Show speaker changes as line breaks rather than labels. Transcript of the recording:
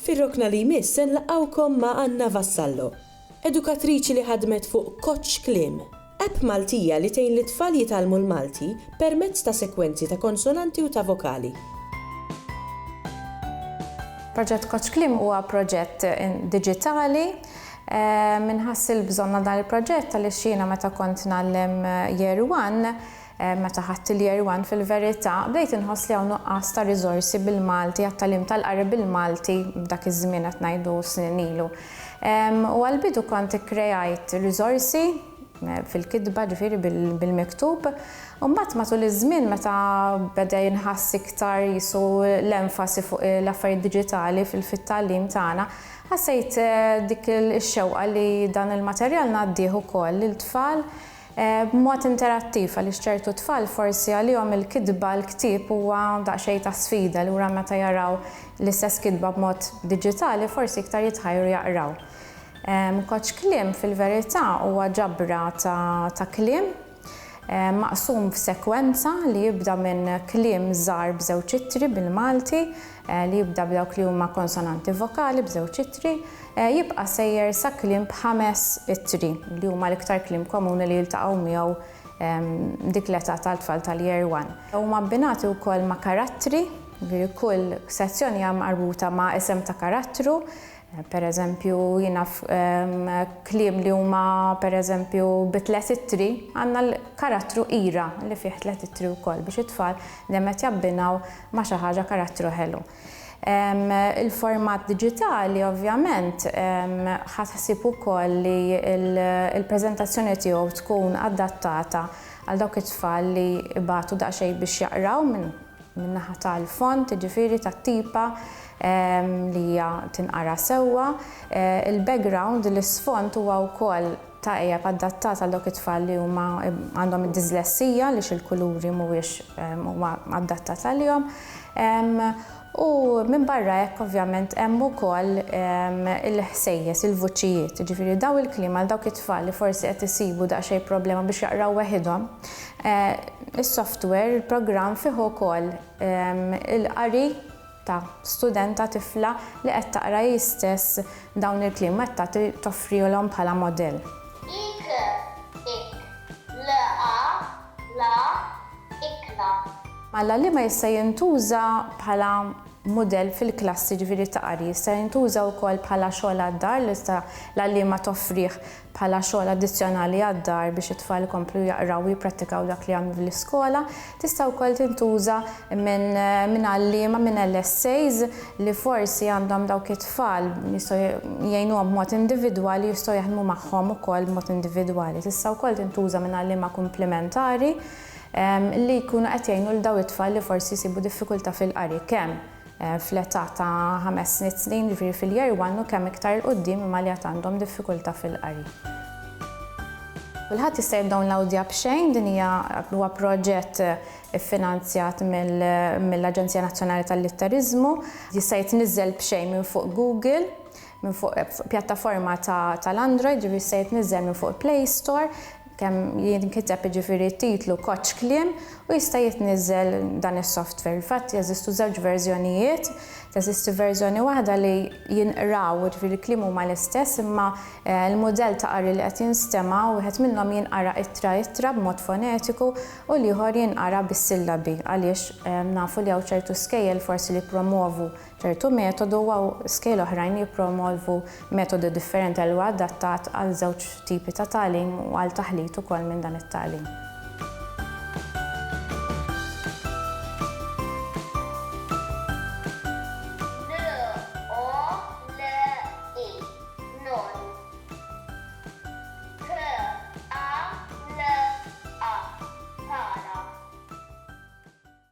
Fir-rokna li jmiss se nlaqgħukom ma' Anna Vassallo, edukatriċi li ħadmet fuq Koċċ Kliem, app Maltija li tgħin lit-tfal jitgħallmu l-Malti permezz ta' sekwenzi ta' konsonanti u ta' vokali. Proġett Koċċ Kliem huwa proġett diġitali. Inħass il-bżonn għal dan il-proġett għaliex jiena meta kont ngħallem Year One, Meta ħadt il-Year One fil-verità bdejt inħoss li hawn nuqqas ta' riżorsi bil-Malti għat-tagħlim tal-qari bil-Malti f'dak iż-żmien qed ngħidu snin ilu. U għall-bidu kont ikkrejajt riżorsi fil-kitba ġifieri bil-miktub u mbagħad matul iż-żmien meta beda jinħass iktar qisu l-enfasi fuq l-affarijiet diġitali fit-tagħlim tagħna ħassejt dik ix-xewqa li dan il-materjal ngħaddih ukoll lil tfal b'mod interattiv għaliex ċertu tfal forsi għalihom il-kitba, l-ktieb huwa daqsxejn ta' sfida, lura meta jaraw l-istess kitba b'mod diġitali forsi iktar jitħajru jaqraw. Koċċ Kliem fil-verità huwa ġabra ta' kliem maqsum f'sekwenza li jibda minn kliem żgħar b'żewġ ittri bil-Malti, li jibda b'dawk li huma konsonanti vokali b'żewġ ittri, jibqa' sejjer sa kliem b'ħames ittri, li huma l-iktar kliem komuni li jiltaqgħu miegħu dik l-età tal-tfal tal-Year One. Huma abbinati wkoll ma' karattri, jiġifieri kull sezzjoni hija marbuta ma' isem ta' karattru, Per eżempju, jiena f'kliem li huma per eżempju bi tliet ittri, għandna l-karattru ira li fih tliet ittri wkoll biex it-tfal dejjem qed jabbinaw ma' xi ħaġa karattru ħelu. Il-format diġitali ovvjament ħa ħsieb ukoll li l-preżentazzjoni tiegħu tkun adattata għal dawk it-tfal li jbatu daqsxejn biex jaqraw, min-naħa tal-font, jiġifieri tat-tipa li hija tinqara sewwa, il-background, l-isfond huwa wkoll tajjeb adattat għal dawk it-tfal li huma għandhom id-dislessija għaliex il-kuluri mhuwiex huma adattat għalihom u minbarra hekk ovvjament hemm ukoll il-ħsejjes, il-vuċijiet, jiġifieri dawn il-kliem għal dawk it-tfal li forsi qed isibu daqsxejn problema biex jaqraw weħidhom, Is-software, il-programm, fih ukoll il-qari ta' student, ta' tifla li qed taqra hi stess dawn il-kliem u qed tagħti toffrihom bħala modell. Ik, ik, lqa, la, ikla. Mala liema jista' jintuża bħala mudell fil-klassi, jiġifieri ta' qari. Jista' jintuża wkoll bħala xogħol għad-dar li tista' l-għalliema toffrih bħala xogħol addizzjonali għad-dar biex it-tfal ikomplu jaqraw u jipprattikaw dak li jagħmlu fl-iskola. Tista' wkoll tintuża minn għalliema, minn LSAs li forsi għandhom dawk it-tfal jistgħu jgħinuhom b'mod individwali, jistgħu jaħdmu magħhom ukoll b'mod individwali. Tista' wkoll tintuża minn għalliema komplementari li jkunu qed jgħinu lil dawn it-tfal li forsi jsibu diffikultà fil-qari kemm fl-età ta' ħames snit snin, jiġifieri fil-Year One u kemm iktar 'il quddiem imma li għad għandhom diffikultà fil-qari. Kulħadd jista' jiddownlowdja b'xejn, din hija, huwa proġett iffinanzjat mill-Aġenzija Nazzjonali tal-Litteriżmu. Jista' jitniżżel b'xejn minn fuq Google, minn fuq pjattaforma tal-Android, jiġifieri jista' jitniżżel minn fuq il-Play Store. Kemm jinkiteb jiġifieri t-titlu Koċċ Kliem u jista' jitniżżel dan is-software. Fil-fatt jeżistu żewġ verżjonijiet, teżisti verżjoni waħda li jinqraw, jiġifieri l-kliem huma l-istess imma l-mudell ta' qari li qed jinstema' wieħed minnhom jinqara ittra ittra b'mod fonetiku u l-ieħor jinqara bis-sillabi għaliex nafu li hawn ċertu skejjel forsi li jippromwovu ċertu metodu u skejl oħrajn li jippromolvu metodu differenti għal huwa adattat għal żewġ tipi ta' tagħlim u għal taħlit ukoll minn dan it-tagħlim.